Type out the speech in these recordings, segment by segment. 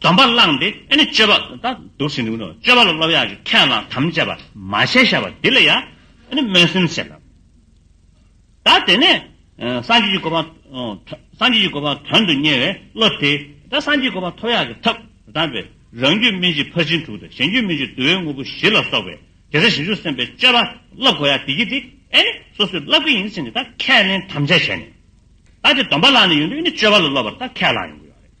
སྡོམ་པ་བླངས་ཏེ་ཨེ་ནི་སྤྱོད་པ། ད་འདུག་ཟིན་དུས་ནི་སྤྱོད་པ་ལ་སློབ་ཡག་གི་ཁས་བླངས་དམ་བཅས་པ་མ་བྱས་ཤ་བ་འདི་ལ་ཡང་ཨེ་ནི་སྨོན་སེམས་བསྐྱེད། ད་དེ་ནས་སངས་རྒྱས་ཀྱི་གོ་འཕང་སངས་རྒྱས་ཀྱི་གོ་འཕང་དོན་དུ་གཉེར་བའི་བློ་དེས་ད་སངས་རྒྱས་ཀྱི་གོ་འཕང་ཐོབ་ཡག་གི་ཐབས་དམ་པས་རང་རྒྱུད་སྨིན་བྱེད་ཕར་ཕྱིན་དྲུག་དང་གཞན་རྒྱུད་སྨིན་བྱེད་བསྡུ་བའི་དངོས་པོ་བཞི་ལ་སོགས་པའི་དགེ་རྩ་ཞིབ་འཇུག་སེམས་དཔའི་སྤྱོད་པ་བསླབ་དགོས་ཡག་དེ་གྱིས་དེ་ཨེ་ནི་སོ་སོས་བསླབ་ཀྱི་ཡིན་ཟེར་ནས་ད་ཁས་ལེན་དམ་བཅས་བྱས་ནས། ད་དེ་སྡོམ་པ་བླངས་ནས་ཡོང་དུས་ཨེ་ནི་སྤྱོད་པ་ལ་སློབ་པར་ད་ཁས་བླངས་ཡོང་གི་ཡོད་རེད།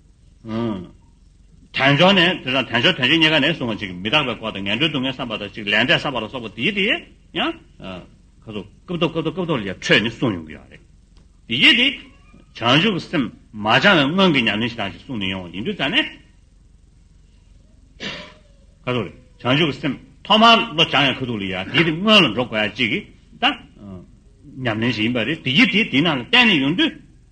དལ་འབྱོར་ནས་དེ་དང་དལ་འབྱོར་དོན་བྱེད་གཉིས་ཀ་ནས་བཟུང་བ་ཅིག་མི་རྟག་པའི་སྐོར་དང་ངན་འགྲོའི་སྡུག་བསྔལ་བསམ་པ་དང་ཅིག་ལས་འབྲས་བསགས་པ་ལ་སོགས་པ་འདི་དེ་ཡང། ཁ་སོ། སྐབས་ཐོབ་སྐབས་ཐོབ་སྐབས་ཐོབ་ལ་ཡང་འཕྲོས་ནས་གསུངས་ཡོང་གི་ཡོད་རེད། དེ་ཡིད་དེ། བྱང་ཆུབ་སེམས་མ་སྦྱང་བའི་སྔོན་གྱི་ཉམས་ལེན་ཞིག་དང་ཞིག་གསུངས་ནས་ཡོང་བ་ཡིན་དུས་ཙང་ནས། ཁ་སོ། བྱང་ཆུབ་སེམས་ཐོག་མར་བློ་སྦྱང་ཡང་ཁ་ཐུག་ལ་ཡ་དེ་དེ་སྔོན་ལ་འགྲོ་དགོས་ཡ་ཅིག་གི། ད། ཉམས་ལེན་ཞིག་ཡིན་པ་རེད་དེ་ཡིད་དེ་དེ་ནང་ལ་གཏན་ནས་ཡོང་དུས།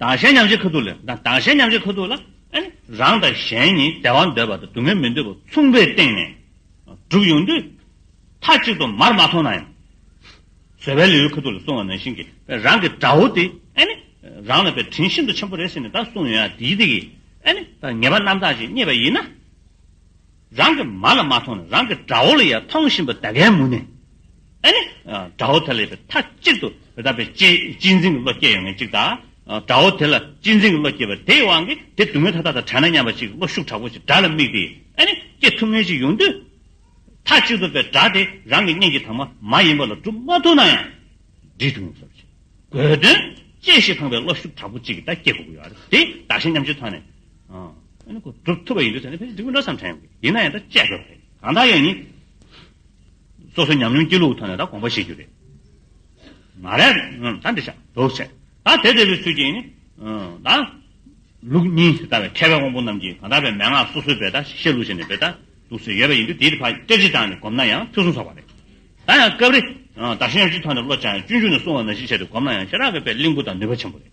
དང་གཞན་མཉམ་བཞེད་ཁ་ཐུག་ལས། དང་གཞན་མཉམ་བཞེད་ཁ་ཐུག་ལ། རང་དང་གཞན་གཉིས་བདེ་བ་འདོད་པ་དང་སྡུག་བསྔལ་མི་འདོད་པ་མཚུངས་པའི་སྟེང་ནས་བསྒྲུབས་ཡོང་དུས། མཐའ་གཅིག་ཏུ་མར་མ་མཐོང་ན་ཡང། བཟོད་པའི་ལེའུའི་ཁ་ཐུག་ལ་སོང་བ་ནང་བཞིན་གྱི་རང་གི་དགྲ་བོ་དེ། རང་ལ་པའི་དྲིན་ཤིན་ཏུ་ཆེན་པོ་རེ་ཟིན་ནས་ད་སོང་ཡོད་ཡ་དེའི་སྟེང་གི། ངེས་པ་རྣམ་དག་ཅིག་རྙེད་པ་ཡིན་ན། རང་གི་མ་ལ་མ་མཐོང་ན་རང་གི་དགྲ་བོ་ལ་ཡང་མཐོང་བཞིན་པ་དགྲ་བགེགས་མུ་ནེ་ཨེ་ནི། དགྲ་བོ་དེ་ལ་ཡོད་པའི་མཐའ་གཅིག་ཏུ་དེ་དག་པའི་སྤྱི་སྤྱི་འཛིན་གྱི་བློ་སྐྱེ་ཡོང་ངེས་གཅིག་དང། དགྲ་བོ་དེ་ལ་སྤྱི་འཛིན་གྱི་བློ་སྐྱེས་པ་དེའི་དབང་གིས་དེ་སྡུག་བསྔལ་མཐའ་དག་དང་བྲལ་ན་སྙམ་པ་གཅིག་བློ་ཤུགས་དྲག་པོ་ཞིག་དགྲ་ལ་དམིགས་ཏེ་ཨེ་ནི་སྐྱེ་ཐུབ་ངེས་ཅིག་ཡོང་དུས། མཐའ་གཅིག་ཏུ་པའི་དགྲ་དེ་རང་གི་གཉེན་གྱི་དྭངས་མ་མ་ཡིན་པ་ལ་སྒྲུབ་མ་ཐུབ་ན་ཡང་འདྲིས་ཐུབ་ངེས་ཟབ་ཅིང་དགོས་དོན་ཅི་ཞིག་ཐང་པའི་བློ་ཤུགས་དྲག་པོ་གཅིག་གིས་ད་སྐྱེ་དགོས་ཀྱི་ཡོད་རེད་དེ་བདག་གཞན་མཉམ་སྤྱོད་ཐང་ནས་སྒྲུབ་ཐུབ་པ་ཡིན་དུས་ཚོད་ནི་ཕལ་ཆེར་འདི་སྐོར་འདྲ་ཙམ་དྲན་ཡོད་ཡིན་ན་ཡང་ད་དཔྱད་དགོས་པ་རེད་གང་དག་ཡོད་ནི་སོ་སོའི་ཉམས་མྱོང་སྐྱིད་ལུག་ཐོག་ནས་ད་དགོངས་པ་བཞེས་རྒྱུ་རེད་མ་རེད། ད་འདི་ཤག་དོགས་བྱས་ད་དེ་བདེ་བའི་ཚུལ་གྱིས་ནི་ད་ལུགས་གཉིས་དེ་ལྟ་བའི་མཁས་པའི་དབང་པོ་རྣམས་ཀྱིས་གང་དག་པའི་མན་ངག་སོ་སོའི་བེ་ད་བཤད་ལུགས་བྱས་ནས་བེ་ད་ལུགས་སུ་ཡོད་པ་ཡིན་དུས་དེའི་བར་སྐད་ཅིག་དྲངས་ནས་སྒོམ་ན་ཡང་ཕུན་སུམ་ཚོགས་པ་རེད་ད་ཡང་སྐབས་རེ་ད་གཞན་གཅིག་ཐོག་ནས་བློ་སྦྱངས་ཡང་སྤྱོད་འཇུག་ནས་བསྲུང་བ་ནང་བཞིན་བྱས་ཏེ་སྒོམ་ན་ཡང་ཤེས་རབ་ཀྱི་བེ་ལིང་བུ་དང་ནུས་པ་ཆེན་པོ་རེད།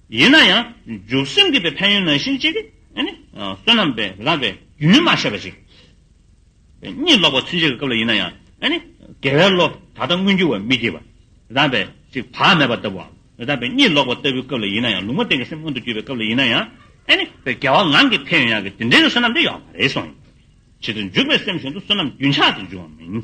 ཡིན་ན་ཡང་འཇུག་སེམས་སྐྱེད་པའི་ཕན་ཡོན་ནང་བཞིན་གཅིག་བསོད་ནམས་པས་རགས་པའི་རྒྱུ་ནི་མ་བཤད་པ་ཞིག། གཉིད་ལོག་པ་ཚུན་ཆད་ཀྱི་སྐབས་ལ་ཡིན་ན་ཡང་དགེ་བའི་བློ་ད་ལྟ་མངོན་གྱུར་བ་མི་སྐྱེ་བ་རགས་པས་གཅིག་བག་མེད་པ་ལྟ་བུའམ། གཉིད་ལོག་པ་ལྟ་བུའི་སྐབས་ལ་ཡིན་ན་ཡང་ལུང་མ་བསྟན་གྱི་སེམས་མངོན་དུ་གྱུར་པའི་སྐབས་ལ་ཡིན་ན་ཡང། རྒྱལ་བ་ངང་གིས་ཕན་ཡོན་ཡང་གི་དེ་འདྲའི་བསོད་ནམས་དེ་ཡོད་མ་རེད་གསུངས། ཇི་ལྟར་འཇུག་པའི་སེམས་བཞིན་དུ་བསོད་ནམས་རྒྱུན་ཆགས་ཏེ་འབྱུང་བ་མིན།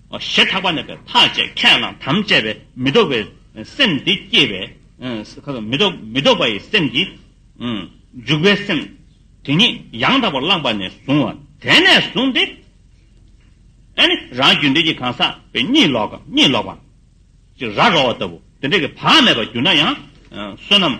ཞེས་ཐག་པ་ནས་པའི་ཐག་བཅད་ཁས་བླངས་དམ་བཅས་པས་མི་ལྡོག་པའི་སེམས་དེ་སྐྱེས་པས། མི་ལྡོག་པ་ཡི་སེམས་ཀྱིས། འཇུག་པའི་སེམས་དེ་ཉིད་ཡང་དག་པར་བླངས་པ་ནས་བཟུང་བ། དེ་ནས་བཟུང་སྟེ། རང་རྒྱུད་འདི་ཀྱི་གང་ཟག་པའི་གཉིད་ལོག་གམ་གཉིད་ལོག་པ། ར་རོ་བ་ལྟ་བུ་དེ་འདྲ་གི་བག་མེད་པར་གྱུར་ན་ཡང། བསོད་ནམས་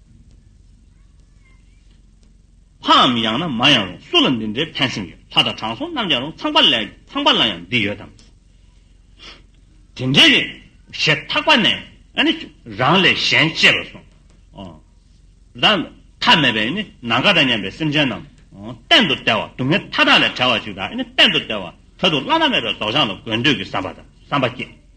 ལྷའམ་ཡང་ན་མ་ཡང་རུང་སུ་ལ་འདི་འདྲའི་ཕན་སེམས་ཡོད་ལྷ་དང་དྲང་སྲོང་རྣམས་ཀྱང་རུང་ཚངས་པ་ལས་ཚངས་པ་ལ་ཡང་འདི་ཡོད་དམ། དེ་འདྲའི་རེད། ཞེས་ཐག་པ་ནས་ནི་རང་ལས་གཞན་གཅེས་པར་སོང། དང། ཐ་མལ་པའི་ནི་ནང་དགའ་དང་སྙན་པའི་སེམས་ཅན་རྣམས། གཏན་དུ་བལྟ་བ་སྡུག་བསྔལ་མཐའ་དག་ལས་བྲལ་བ་ཅིག་དང་ནི་གཏན་དུ་བལྟ་བ་ད་དུ་བླ་ན་མེད་པའི་རྫོགས་བྱང་ལ་དགོས་འདོད་ཀྱི་བསམ་པ་དང་བསམ་པ་སྐྱེས།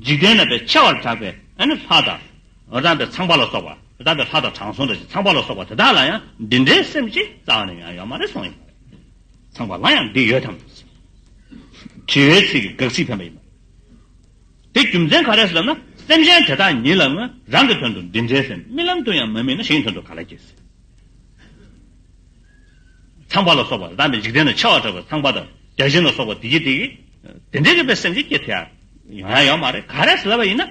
འཇིག་རྟེན་རྣམ་པའི་ཆེ་བར་གྲགས་པའི་ལྷ་དང། རྣམ་པའི་ཚངས་པ་ལ་སོགས་པ། རྣམ་པའི་ལྷ་དང་དྲང་སྲོང་དང་ཞེས་ཚངས་པ་ལ་སོགས་པ་དེ་དག་ལ་ཡང་འདི་འདྲའི་སེམས་ཅན་རྩ་བ་ནས་ཡང་ཡོད་མ་རེད་གསུངས་ཡོད་པ་རེད། ཚངས་པ་ལ་ཡང་འདི་ཡོད་དམ། དྲི་བའི་ཚིག་གིས་དགག་ཚིག་འཕེན་པ་ཡིན་པ། དེ་རྒྱུ་མཚན་ག་རེ་ཟེར་ན་སེམས་ཅན་དེ་དག་ཉིད་ལའང་རང་གི་དོན་དུ་འདི་འདྲའི་སེམས་རྨི་ལམ་དུ་ཡང་མ་རྨིས་ན་གཞན་གྱི་དོན་དུ་ག་ལ་སྐྱེས། ཚངས་པ་ལ་སོགས་པ་དང་དམ་པའི་འཇིག་རྟེན་ན་འཆི་བ་བྲལ་བའི་ཚངས་པ་དང་བརྒྱ་བྱིན་ལ་སོགས་པ་དེ་གྱིས་དེ་གྱིས་དེ་འདྲའི་རིག་པའི་སེམས་ཅན་སྐྱེ་ཐལ། ཡང་ཡང་ཡོད་མ་རེད་ག་རེ་ཟེར་བ་ཡིན་ན།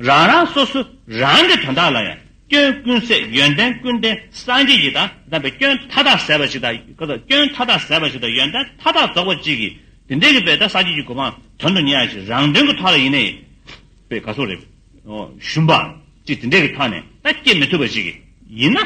རང་རང་སོ་སོ་རང་གི་དོན་དག་ལ་ཡང་སྐྱོན་ཀུན་ཟད་ཡོན་ཏན་ཀུན་ལྡན་སངས་རྒྱས་ཀྱི་དང་དམ་པའི་སྐྱོན་མཐའ་དག་ཟད་པ་ཞིག་དང་སྐྱོན་མཐའ་དག་ཟད་པ་ཞིག་དང་ཡོན་ཏན་མཐའ་དག་རྫོགས་པ་གཅིག་གིས་དེ་འདྲའི་རིག་པའི་དང་སངས་རྒྱས་ཀྱི་གོ་འཕང་དོན་དུ་གཉེར་བ་ཞིག་རང་དོན་གྱི་ཐོག་ལ་ཡིན་ནའི། པའི་དགའ་གསུང་རེད། ཞུམ་པ་གཅིག་དེ་འདྲའི་གི་ཐོག་ནས་ད་སྐྱེ་མི་ཐུབ་པ་ཞིག་གིས་ཡིན་ན།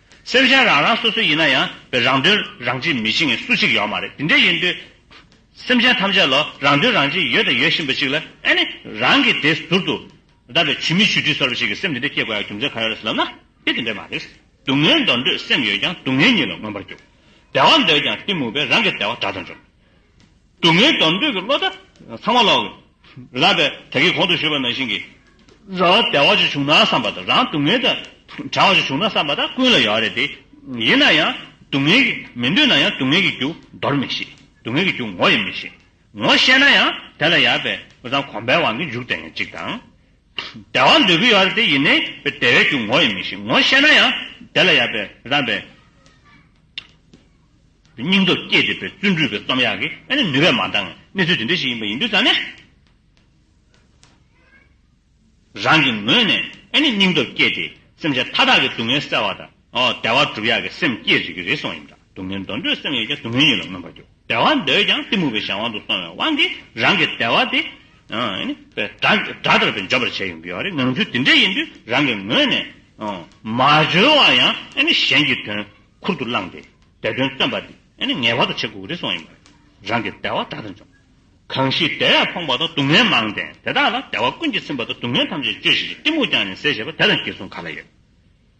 སེམས་ཅན་རང་རང་སོ་སོ་ཡིན་ན་ཡང་བའི་རང་དོན་རང་གཅེས་མི་བྱེད་ངེས་སུ་གཅིག་ཡོད་མ་རེད་དེ་འདྲ་ཡིན་དུས། སེམས་ཅན་ཐམས་ཅད་ལ་རང་དོན་རང་གཅེས་ཡོད་དང་ཡོད་བཞིན་པ་ཞིག་ལ་ཨེ་ནི་རང་གིས་དེ་ཟུར་དུ་བདག་གི་ཇུས་མི་ཇུས་དྲིས་ཚོར་བ་ཞིག་གི་སེམས་དེ་འདྲ་སྐྱེ་དགོས་ཡ་རྒྱུ་མཚན་ག་རེ་རེད་ལབ་ན་དེ་དེ་འདྲ་མ་རེད། སྡུག་བསྔལ་འདོར་འདོད་སེམས་ཡོད་ཀྱང་སྡུག་བསྔལ་ཉིད་ལ་མངོན་པར་འགྱུར། བདེ་བ་འདོད་ཀྱང་གཏི་མུག་པས་རང་གི་བདེ་བ་དགྲ་དང་འཇོམས། སྡུག་བསྔལ་སྡོམ་འདོད་ཀྱི་བློ་ལྟ། ཚང་མ་ལོག། ལབ་པས་ད་གིན་གོང་དུ་ཞུས་པ་ནང་བཞིན་གྱི། ར་བ་བདེ་བ་ཅིག་བྱུང་ན་བསམ་པ་དང་རང་སྡུག་བསྔལ་དང། བྲལ་བ་ཅིག་བྱུང་ན་བསམ་པ་དང་ཀུན་ལ་ཡོད་རེད་དེ། ཡིན་ན་ཡང། སྡུག་བསྔལ་གྱི། མི་འདོད་ན་ཡང་སྡུག་བསྔལ་གྱི་རྒྱུ། འདོར་མི་ཤེས། སྡུག་བསྔལ་གྱི་རྒྱུ་ངོ་ཡང་མི་ཤེས། ངོ་ཤེས་ན་ཡང། དེ་ལ་ཡར་བས། བུ་ཚང་གོམས་པའི་དབང་གིས་མཇུག་དེ་ཡང་གཅིག་དང། བདེ་བ་འདོད་ཀྱི་ཡོད་རེད་དེ་ཡིན་ནའི། བདེ་བའི་རྒྱུ་ངོ་ཡང་མི་ཤེས། ངོ་ཤེས་ན་ཡང། དེ་ལ་ཡར་བས། རང་བས། སྙིང་སྟོབས་བསྐྱེད་འདོད་པའི་བརྩོན་འགྲུས་པའི་རྩོམ་ཡག་གི་ཨ་ནི་ནུས་པས་མ་འདང། གནས་ཚུལ་དེ་འདྲ་ཞིག་ཡིན་པ་ཡིན་དུས་ཙང་ནས། རང་གི་ངོས་ནས་ཨ་ནི་སྙིང་སྟོབས་བསྐྱེད་དེ་སེམས་ཅན་མཐའ་དག་གི་སྡུག་བསྔལ་སེལ་བ་དང། བདེ་བ་སྒྲུབ་ཡག་གི་སེམས་བསྐྱེད་རིགས་ཀྱི་རེ་ཟུང་ཡིན་པ་འདྲ། སྡུག་བསྔལ་འདོར་འདོད་སེམས་ཡོད་ཀྱང་སྡུག་བསྔལ་ཉིད་ལ་མངོན་པར་འགྱུར། བདེ་བ་འདོད་ཀྱང་གཏི་མུག་གི་གཞན་དབང་དུ་སོང་བའི་དབང་གིས་རང་གི་བདེ་བ་དེ། སྒྲ་ལྟར་དུ་འཇོག་པར་བྱེད་ཡོང་གི་ཡོད་རེད་ངང་ཚུལ་དེ་འདྲ་ཡིན་དུས་རང་གི་ངོས་ནས། མ་འཇོལ་བ་ཡང་གཞན་གྱི་དོན་ཁུར་དུ་བླངས་ཏེ་དེ་དོན་སྟོན་པ་དེ་ངེས་པར་དུ་བྱེད་དགོས་ཀྱི་རེད་སོགས་ཡིན་པ་རེད། རང་གི་བདེ་བ་སྒྲ་ལྟར་འཇོག། གང་ཞིག་བདེ་བས་ཕོངས་པ་དང་སྡུག་བསྔལ་མང་སྟེ་དེ་དག་ལ་བདེ་བ་ཀུན་གྱིས་ཚིམ་པ་དང་སྡུག་བསྔལ་ཐམས་ཅད་གཅོད་བཞིན་གྱི་གཏི་མུག་ཀྱང་ནི་ཟད་བྱེད་པ་དེ་དང་གྱེས་གསུམ་ག་ལ་ཡོད།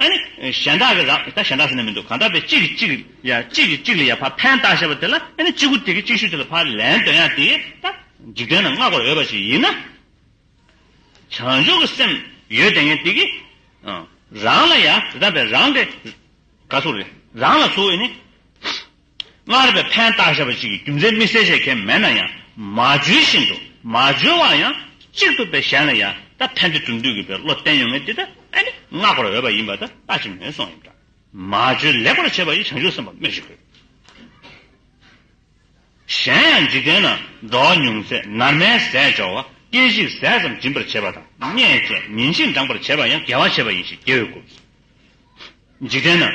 ཨ་ནི། གཞན་དག་གི་ར། ད་གཞན་དག་ཟེར་ནི་མི་འདུག་གང་དག་པའི་གཅིག་གི་གཅིག། ཡང་གཅིག་གི་གཅིག་ལ་ཡང་ཕ་ཕན་བཏགས་བཤད་པ་དེ་ལ་ཨ་ནི་གཅིག་པུ་དེ་གི་གཅིག་ཤོས་དེ་ལ་ཕ་ལན་དོན་ཡང་དེ་ད། འཇིག་རྟེན་ན་སྔ་གོར་འོས་པ་ཞིག་ཡིན་ན། བྱང་ཆུབ་ཀྱི་སེམས་ཡོད་དེ་ངས་དེ་གི། རང་ལ་ཡང་དེ་ད་པའི་རང་གི། ག་ཚུགས་རེད་རང་ལ་ཚུགས་ཨེ་ནི། སྔར་བས་ཕན་བཏགས་བྱས་པ་གཅིག་གི་རྒྱུ་མཚན་དམིགས་བསལ་བྱེད་མཁན་མེད་ན་ཡང་མ་བརྗོད་བཞིན་དུ་མ་བརྗོད་བ་ཡང་གཅིག་ཐུབ་པས་གཞན་ལ་ཡང་དག་ཕན་བདེ་བསྒྲུབ་འདོད་ཀྱི་བའི་བློ་བསྟན་ཡོང་ངེས་འདི་ལྟ་ཨེ་ནི་བསྔགས་པར་འོས་པ་ཡིན་པ་ལྟ་ལྟ་ཅི་མོས་སོང་ཡིན་འདྲ། མ་བརྗོད་ལེགས་པར་བྱས་པ་ཡི་བྱང་ཆུབ་སེམས་དཔའ་སྨོས་ཅི་དགོས། གཞན་ཡང་འཇིག་རྟེན་ན་འགྲོ་བ་ཉུང་ཚད་ནར་མའི་ཟས་སྦྱོར་བ་སྐད་ཅིག་ཟས་ཙམ་སྦྱིན་པར་བྱེད་པ་དང་སྙན་བཅས་ཉིན་བཞིན་འགྲངས་པར་བྱེད་པ་ཡང་དགེ་བ་བྱེད་པ་ཡིན་ཞེས་རྒྱལ་བས་བསྒོ། འཇིག་རྟེན་ན།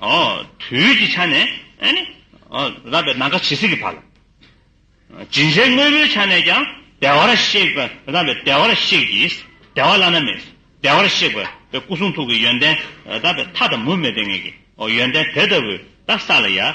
དུས་ཀྱི་ཆ་ནས་རགས་པའི་ནམ་མཁའ་ཇི་སྲིད་ཀྱི་བར་ལ། སྦྱིན་སྲེག་དངོས་པོའི་ཆ་ནས་ཀྱང་བདེ་བར་གཤེགས་པའི་རགས་པའི་བདེ་བར་གཤེགས་ཀྱིས་བདེ་བ་བླ་ན་མེད་བདེ་བར་གཤེགས་པའི་སྐུ་གསུང་ཐུགས་ཀྱི་ཡོན་ཏན་རགས་པའི་མཐའ་དང་མུ་མེད་པའི་ངང་གིས་ཡོན་ཏན་དེ་ལྟ་བུའི་བདག་ས་ལ་ཡང།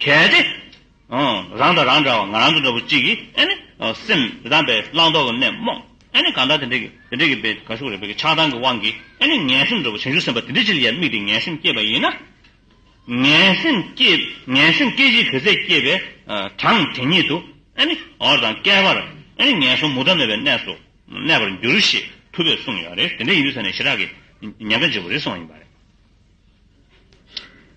གལ་ཏེ། རང་དང་རང་འདྲ་བ་ང་རང་གི་འདྲ་བོ་གཅིག་གིས། སེམས་དེ་དང་པའི་བླང་དོར་གྱི་གནས་རྨོངས། གང་ལྟར་དེ་འདྲའི་དེ་འདྲའི་པའི་ག་ཤུགས་རེ་བས་ཀྱི་ཆགས་སྡང་གི་དབང་གིས། ངན་སེམས་འདྲ་བོ་བྱང་ཆུབ་སེམས་དཔའ་དེ་འདྲའི་ཕྱིར་ཡ་དམིགས་ཏེ་ངན་སེམས་སྐྱེས་པ་ཡིན་ན། ངན་སེམས་སྐྱེས་བྱའི་བུ་ཚས་སྐྱེས་པའི་གྲངས་དེ་ཉིད་དུ། འོར་དང་བསྐལ་པར་ངན་སོང་མུ་མཐའ་མེད་པའི་གནས་སུ་གནས་པར་འགྱུར་ཞེས་ཐུབ་པས་གསུངས་ཡོད་རེད། དེ་འདྲ་ཡིན་དུས་ས་ནས་ཞི་རགས་ཀྱི་ཉེན་ཁ་འཇིགས་པ་རེ་སོང་བ་ཡིན་པ་རེད།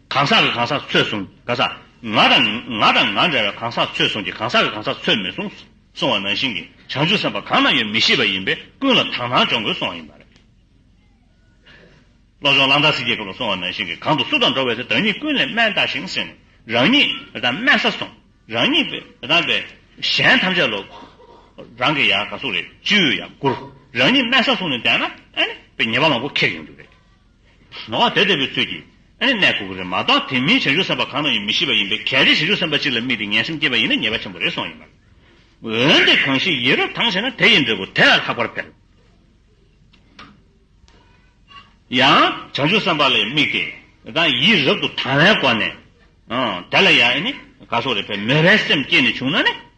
གང་ཟག་གི་གང་ཟག་ཚོད་བཟུང་ག་ས། ང་དང་ང་དང་ང་འདྲ་བའི་གང་ཟག་ཚོད་བཟུང་གི་གང་ཟག་གི་གང་ཟག་ཚོད་མི་བཟུང་སོང་བ་ནང་བཞིན་གྱི་བྱང་ཆུབ་སེམས་དཔའ་གང་ན་ཡོད་མི་ཤེས་པ་ཡིན་པས་ཀུན་ལ་དག་སྣང་སྦྱོང་དགོས་སོང་བ་ཡིན་པ་རེད། བློ་སྦྱོང་གླང་དར་སིག་གི་སྐབས་ལ་སོང་བ་ནང་བཞིན་གྱི་གང་དུ་སུ་དང་འགྲོགས་བས་དེ་དོན་གཉིས་ཀུན་ལས་དམན་ལྟ་ཞིང་སེམས་རང་ཉིད་དང་དམན་ས་སོང་རང་ཉིད་པའི་དང་པའི་གཞན་ཐམས་ཅད་ལོ་རང་གི་ཡང་ག་སུ་རེད་ཅིའུ་ཡང་བཀུར་རང་ཉིད་དམན་ས་སོང་ནས་བསྡད་ན་ཨ་ནི་པའི་ཉེས་པ་མང་པོ་ཁེགས་ཡོང་རྒྱུ་རེད། ནོར་བ་དེ་ལྟ་བུའི་ཚུལ་གྱིས་ཨེ་གནས་དགོས་ཀྱི་རེད་མ་གཏོགས་དེ་མིན་བྱང་ཆུབ་སེམས་དཔའ་གང་ན་ཡོད་མི་ཤེས་པ་ཡིན་པས་གལ་ཏེ་བྱང་ཆུབ་སེམས་དཔའ་གཅིག་ལ་དམིགས་ཏེ་ངན་སེམས་སྐྱེས་པ་ཡིན་ན་ཉེས་པ་ཆེན་པོ་རེད་སོང་ཡིན་པ། འོན་ཏེ་གང་ཞིག་ཡིད་རབ་དྭངས་ཤེས་ན་དེ་ཡི་འབྲས་བུ་དེ་ལ་ལྷག་པར་འཕེལ། ཡང་བྱང་ཆུབ་སེམས་དཔའ་ལ་དམིགས་ཏེ་དང་ཡིད་རབ་ཏུ་དྭངས་བའི་སྒོ་ནས། དེ་ལ་ཡང་ཨེ་གནས་དགའ་སོགས་རེ་འཕེལ་མོས་པའི་སེམས་སྐྱེས་ནས་བྱུང་ན་ནི།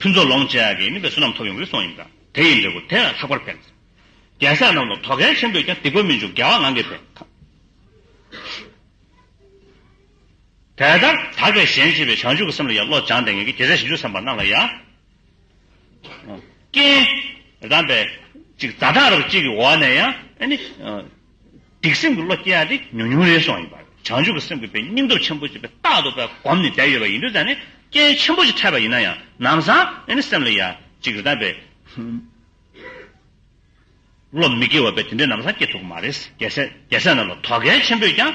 ཕུན་ཚོགས་ལོངས་སྤྱད་ཀྱིས་སྨིན་པའི་བསོད་ནམས་ཐོབ་ཡོང་གི་སོང་ཡིན་གདའ། དེ་ཡི་འབྲས་བུ་དེ་ལ་ལྷག་པར་ཕན། རྒྱལ་སྲས་རྣམས་ལ་དོ་གལ་ཆེན་པོས་ཀྱང་སྡིག་པ་མི་འཇུག་རྒྱལ་བ་ངང་གིས་ཕན། དེ་ལྟར་དག་པའི་གཞན་གཅེས་པའི་བྱང་ཆུབ་ཀྱི་སེམས་ལ་ཡང་བློ་སྦྱངས་ཏེ་ངེད་ཀྱི་རྒྱལ་སྲས་ཞིབ་འཇུག་བསམ་པ་རྣམས་ལ་ཡང། རྐྱེན། རེ་དང་པས། ཅིག་རྩ་གྲངས་རབ་གཅིག་གི་འོག་ནས་ཡང། སྡིག་སེམས་ཀྱི་བློ་སྐྱེ་ཡག་དེ་ཉུང་ཉུང་རེ་སོང་ཡིན་པ། བྱང་ཆུབ་ཀྱི་སེམས་ཀྱི་བའི་སྙིང་སྟོབས་ཆེན་པོ་ཅིག་པའི་རྟག་ཏུ་བའི་སྒོམ་ནས་བསྡད་ཡོད་པ་ཡིན་དུས་ད་ནི་རྐྱེན་ཆེན་པོ་ཅིག་འཕྲད་པ་ཡིན་ན་ཡང་ནམ་བཟང་ཨེ་ནི་སེམས་ལ་ཡ། ཅིག་རེ་ད་བའི་བློ་མི་སྐྱེ་བ་བས་དེ་འདྲའི་ནམ་བཟང་སྐྱེ་ཐུབ་ཀྱི་མ་རེད། རྒྱལ་སྲས་རྣམས་ལ་དོ་གལ་ཆེན་པོས་ཀྱང།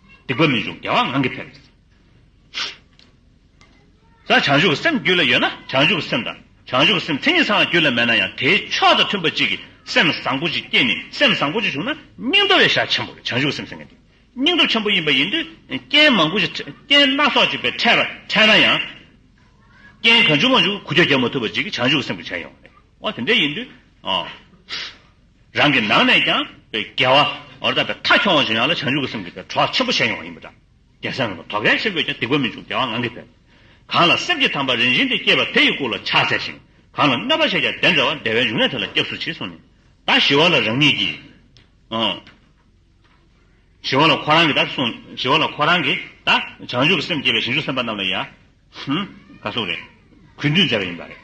སྡིག་པ་མི་འཇུག་བདེ་བ་ངང་གིས་འཕེལ། ས་བྱང་ཆུབ་སེམས་རྒྱུད་ལ་ཡོད་ན་བྱང་ཆུབ་སེམས་དང་བྱང་ཆུབ་སེམས་མཚན་ཉིད་ཚང་བ་རྒྱུད་ལ་མེད་ན་ཡང་དེའི་ཕྱོགས་དང་མཐུན་པ་གཅིག་གིས་སེམས་བཟང་པོ་ཅིག་སྐྱེས་ནས་སེམས་བཟང་པོ་ཅིག་བྱུང་ན་སྙིང་སྟོབས་ཡེ་ཤེས་ཆེན་པོ་བྱང་ཆུབ་སེམས་སེང་གེ་འདི་སྙིང་སྟོབས་ཆེན་པོ་ཡིན་པ་ཡིན་དུས་རྐྱེན་མང་པོ་ཅིག་རྐྱེན་སྣ་ཚོགས་ཅིག་པས་འཕྲད་པར་འཕྲད་ན་ཡང། རྐྱེན་གང་བྱུང་མ་བྱུང་གུ་རྒྱ་རྒྱག་མ་ཐུབ་པ་ཅིག་བྱང་ཆུབ་སེམས་ཀྱི་བྱས་ཡོང་བ་རེད། འོ་དེ་འདྲ་ཡིན་དུས། རང་གི་ནང་ནས་ཀྱང་དགེ་བ་འོ་ད་པའི་མཐའ་འཁྱོངས་བ་བྱེད་ཡོང་ལ་བྱང་ཆུབ་ཀྱི་སེམས་ཀྱི་དེ་གྲོགས་ཆེན་པོ་བྱེད་ཡོང་བ་ཡིན་པ་འདྲ་རྒྱལ་སྲས་རྣམ་པ་དོ་གལ་ཆེན་པོས་ཀྱང་སྡིག་པ་མི་འཇུག་དགེ་བ་ངང་གིས་འཕེལ། གང་ལ་སེམས་ཀྱི་དམ་པ་རིན་ཆེན་དེ་སྐྱེས་པ་དེ་ཡི་སྐུ་ལ་ཕྱག་འཚལ་ཞིང་གང་ལ་གནོད་པ་བྱས་ཀྱང་དེ་འདྲ་བ་བདེ་བའི་འབྱུང་གནས་དེ་ལ་སྐྱབས་སུ་མཆི་གསུངས་ནས། ད་ཞི་བ་ལ་རང་ཉིད་ཀྱིས། ཞི་བ་ལ་ཁོ་རང་གིས་ད་གསུངས། ཞི་བ་ལ་ཁོ་རང་གིས་ད། བྱང་ཆུབ་ཀྱི་སེམས་བསྐྱེད་པའི་ཞིང་བཅུ་སེམས་དཔའ་རྣམས་ལ་ཡང། ག་སོགས་རེད། གུས་འདུད་མཛད་པ་ཡིན་པ་རེད།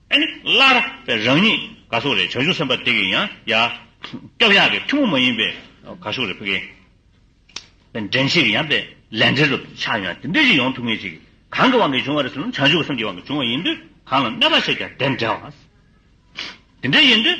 སླར་རང་ཉིད་ག་སོགས་རེད་བྱང་ཆུབ་སེམས་དཔའ་དེ་གི་ཡང་ཡ། སྐྱབས་ཡག་གི་ཐུན་མོང་མ་ཡིན་པའི་ག་སོགས་རེད་ཕི་གེ། འདྲེན་བྱེད་ཀྱི་ཡང་པའི་ལས་འབྲེལ་དུ་ཆགས་ཡང་དེ་འདྲས་ཅིག་ཡོང་ཐུབ་ངེས་ཅིག་གང་གི་དབང་གིས་བྱུང་བ་རེད་ཟེར་ན་བྱང་ཆུབ་སེམས་ཀྱི་དབང་གིས་བྱུང་བ་ཡིན་དུས་གང་ལ་གནོད་པ་བྱས་ཀྱང་དེ་འདྲའོ། དེ་འདྲས་ཡིན་དུས།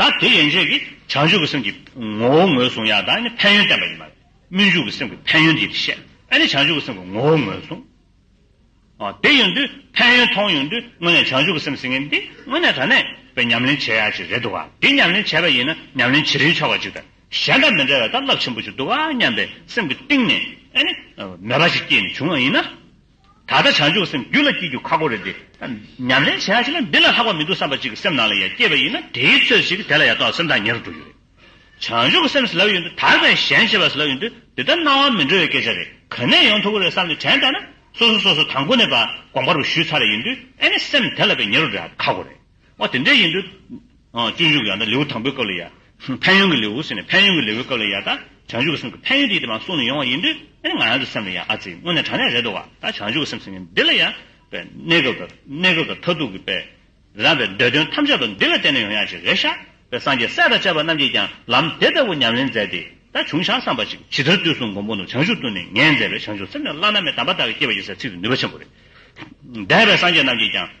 ད་དེ་ཡན་ཆད་ཀྱིས་བྱང་ཆུབ་ཀྱི་སེམས་ཀྱི་ངོ་བོ་ངོས་བཟུང་ཡང་དང་ནི་ཕན་ཡོན་བསྟན་པ་ཡིན། མ་སྨོན་འཇུག་གི་སེམས་ཀྱི་ཕན་ཡོན་འདི་བཤད་ནས་བྱང་ཆུབ་ཀྱི་སེམས་ཀྱི་ངོ་བོ་ངོས་བཟུང། དེ་ཡོད་དུས་ཕན་ཡོན་མཐོང་ཡོད་དུས་དངོས་གནས་བྱང་ཆུབ་ཀྱི་སེམས་ཟིན་མཁན་འདི་དངོས་གནས་དྲ་གནས་པའི་ཉམས་ལེན་བྱེད་ཡག་ཅིག་རེད་འདུག་ག་འདི་ཉམས་ལེན་བྱས་པ་ཡིན་ན་ཉམས་ལེན་བྱེད་རིན་ཆོག་པ་ཅིག་དང་གཞན་དང་མི་འདྲ་བའི་སྟབས་རླབས་ཆེན་པོ་ཅིག་འདུག་ག་སྙམ་པའི་སེམས་ཀྱི་གཏིང་ནས་ནས་མོས་པ་ཞིག་སྐྱེས་ནས་བྱུང་བ་ཡིན་ན། ད་ལྟ་བྱང་ཆུབ་སེམས་རྒྱུད་ལ་སྐྱེ་རྒྱུ་ཁག་པོ་རེད་དེ། ཉམས་ལེན་བྱས་ཤིང་ན་འདི་ལ་ལྷག་པ་མི་འདུག་བསམ་པ་ཅིག་གི་སེམས་ནང་ལ་ཡང་སྐྱེས་པ་ཡིན་ན་དེའི་ཚོད་ཅིག་དེ་ལ་ཡང་དོགས་སེམས་དང་ཉེར་འགྲོ་རྒྱུ་རེད། བྱང་ཆུབ་སེམས་ཟེར་ལབ་ཡོད་འདུག་དག་པའི་ཞེན་བྱེད་པ་ཟེར་ལབ་ཡོད་འདུག་དེ་ལྟར་སྣང་བ་མི་འགྲོ་བའི་སྐད་ཆ་རེད་ག་ནས་ཡོང་ཐུབ་ཀི་རེད་བསམ་ནས་དྲན་བསྡད་ན་སོ་སོ་སོ་སོ་དང་པོ་ནས་པ་དགོངས་པ་རུ་ཞུས་ཚར་ཡིན་དུས་ཨེ་ནས་སེམས་དེ་ལ་པའི་ཉེར་འགྲོ་འདྲ་ཁག་པོ་རེད། ཨོ་དེ་འདྲ་ཡིན་དུས། སྤྱོད་འཇུག་ཡང་དག་ལེའུ་དང་པོའི་སྐབས་ལ་ཡང། ཕན་ཡོན་གྱི་ལེའུ་ཟེར་ནས་ཕན་ཡོན་གྱི་ལེའུའི་སྐབས་ལ་ཡང་དག་བྱང་ཆུབ་ཀྱི་སེམས་ཀྱི་ཕན་ཡོན་དེ་ཡི་དེ་མ་གསུངས་ནས་ཡོང་བ་ཡིན་དུས། ཨེ་ང་ཡང་དུ་སེམས་ལ་ཡང་ཨ་ཙི་དངོས་གནས་དྲང་གནས་རེད་འདུག་བ་ད་བྱང་ཆུབ་ཀྱི་སེམས་ཟེར་མཁན་འདི་ལ་ཡང། པའི་གནས་སྐབས་དང་གནས་སྐབས་དང་མཐར་ཐུག་གི་པའི། རང་པའི་འདོད་དོན་ཐམས་ཅད་དུ་འདི་ལ་བརྟེན་ནས་ཡོང་ཡ་ཅིག་རེད་ཤག་པའི་སངས་རྒྱས་སྲས་དང་བཅས་པ་རྣམས་ཀྱིས་ཀྱང་ལམ་དེ་ལྟ་བུ་ཉམས་ལེན་མཛད་དེ་ད་བྱུང་ཤག་བསམ་པ་ཅིག་ཇི་ལྟར་དུས་གསུམ་མགོན་པོ་ནོར་བྱང་ཆུབ་ཏུ་ནི་ངས་མཛད་པའི་བྱང་ཆུབ་སེམས་ལས་བླ་ན་མེད་དམ་པ་དག་གིས་བསྐྱེད་པ་ཡིན་ཟེར་ཚིག་དེ་ནུས་པ་ཆེན་པོ་རེད། འདས་པའི་སངས་རྒྱས་རྣམས་ཀྱིས་ཀྱང།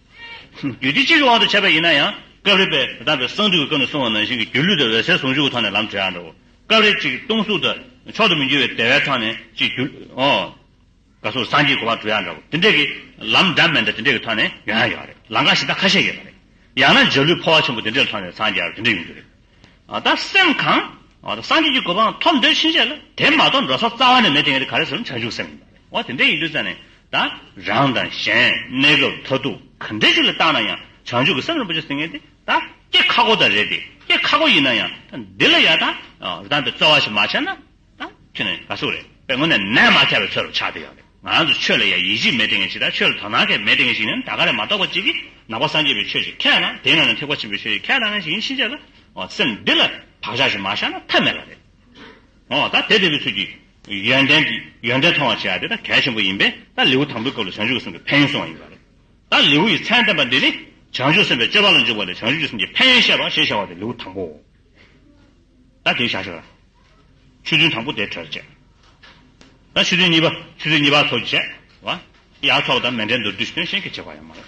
རྒྱུད་སྡེ་གཅིག་གི་དབང་དུ་བྱས་པ་ཡིན་ན་ཡང། སྐབས་རེ་དཔལ་དེ་དམ་པའི་གསང་འདུས་ཀྱི་སྐབས་ནས་བཟུང་བ་ནང་བཞིན་གྱི་སྒྱུ་ལུས་དང་འོད་གསལ་ཟུང་འཇུག་གི་ཐོག་ནས་ལམ་བྲལ་ཡང་འདྲའོ། སྐབས་རེ་གཅིག་སྟོང་གཟུགས་དང་མཆོག་ཏུ་མི་འགྱུར་བའི་བདེ་བའི་ཐོག་ནས་གཅིག་སྒྱུ། ལུས་སོགས་སངས་རྒྱས་གོ་འཕང་གྲུབ་ཡང་འདྲའོ། དེ་འདྲ་གི། ལམ་འདྲ་མི་འདྲ་དེ་འདྲ་གི་ཐོག་ནས་ཡོང་ཡང་ཡོད་རེད། ལམ་ཁ་ཞིག་དང་ཁ་ཤས་ཡོད་པ་རེད། ཡང་ན་འཇའ་ལུས་འཕོ་བ་ཆེན་པོ་དེ་འདྲའི་ཐོག་ནས་འཚང་རྒྱ་བ་དེ་འདྲ་ཡོང་རྒྱུ་རེད། ད་སེམས་གང། སངས་རྒྱས་ཀྱི་གོ་འཕང་ཐོབ་འདོད་ཕྱིན་ཆད་ལ་དེ་མ་གཏོགས་འགྲོ་ས་རྩ་བ་ནས་མེད་དེ་གལ་ཏེ་ག་རེ་བྱས་ན་བྱང་ཆུབ་སེམས་ཡིན་པ་རེད། འོ་དེ་འདྲ་ཡིན་དུས་ཙམ་ནས་ད་རང་དང་གཞན་གནས་སྐབས་མཐར་ཐུག་ག་འདྲས་ཞིག་ལ་བརྟགས་ན་ཡང་བྱང་ཆུབ་ཀྱི་སེམས་རིན་པོ་ཆེ་ཟེར་མཁན་དེ་ད་སྐྱེ་ཁག་པོ་དག་རེད་དེ་སྐྱེ་ཁག་པོ་ཡིན་ན་ཡང་ད་འདི་ལ་ཡང་ད་རང་དང་རྩ་བ་ཞིག་མ་ཆགས་ན་ཁྱོད་ནི་ག་སུ་རེད་པའི་སྔོན་ནས་ནད་མ་ཁྱབ་པའི་ཚོད་རུ་ཆགས་བསྡད་ཡོད་རེད། ང་ཚོ་ཆོས་ལ་ཡ་ཡིད་ཆེས་མེད་ལྟས་ངན་ཞིག་དང་ཆོས་ལ་དོ་སྣང་ཁེ་མེད་ལྟས་ངན་ཞིག་ནི་ད་ག་ལས་མ་གཏོགས་པ་ཅིག་གིས་ནག་པ་སངས་རྒྱས་པའི་ཆོས་ཞིག་ཁས་བླངས་དེའི་ནང་ནས་ཐེག་པ་ཆེན་པོའི་ཆོས་ཞིག་ཁས་བླངས་མཁན་ཞིག་ཡིན་ཕྱིན་ཆད་ལ་འོ་སེམས་འདི་ལ་བག་ཆགས་ཤིག་མ་བཞག་ན་ཐབས་མེད་ལ་རེད། འོ་ད་དེ་དེ་བའི་ཚུལ་གྱིས་ཡོན་ཏན་གྱི་ཡོན་ཏན་མཐོང་བར་བྱེད་ཡ་དེ་ད་གལ་ཆེན་པོ་ཡིན་པས་ད་ལེའུ་དང་པོའི་སྐབས་ལ་བྱང་ཆུབ་ཀྱི་སེམས་ཀྱི་ཕན་ཡོན་གསུངས་བ་ཡིན་པ་རེད། ད་ལེའུ་ཡི་མཚན་བསྟན་པ་འདི་ནི་བྱང་ཆུབ་སེམས་དཔའི་སྤྱོད་པ་ལ་འཇུག་པ་ལས་བྱང་ཆུབ་ཀྱི་སེམས་ཀྱི་ཕན་ཡོན་བཤད་པ་ཞེས་བྱ་བ་དེ་ལེའུ་དང་པོའོ། ད་དེ་བྱ་ཞོར། ཆུ་རྫུན་དང་པོ་དེ་གྲོལ་བྱེད། ད་ཆུ་རྫུན་གཉིས་པ། ཆུ་རྫུན་གཉིས་པ་ཚོགས་ཀྱིས་བྱེད། བ། ཡ་ཚོགས་དང་མེ་འབྲེལ་མདོར་བསྡུས་ཞི་དོན་གཞན་གྱིས་བྱེད་པ་ཡང་མ་རེད།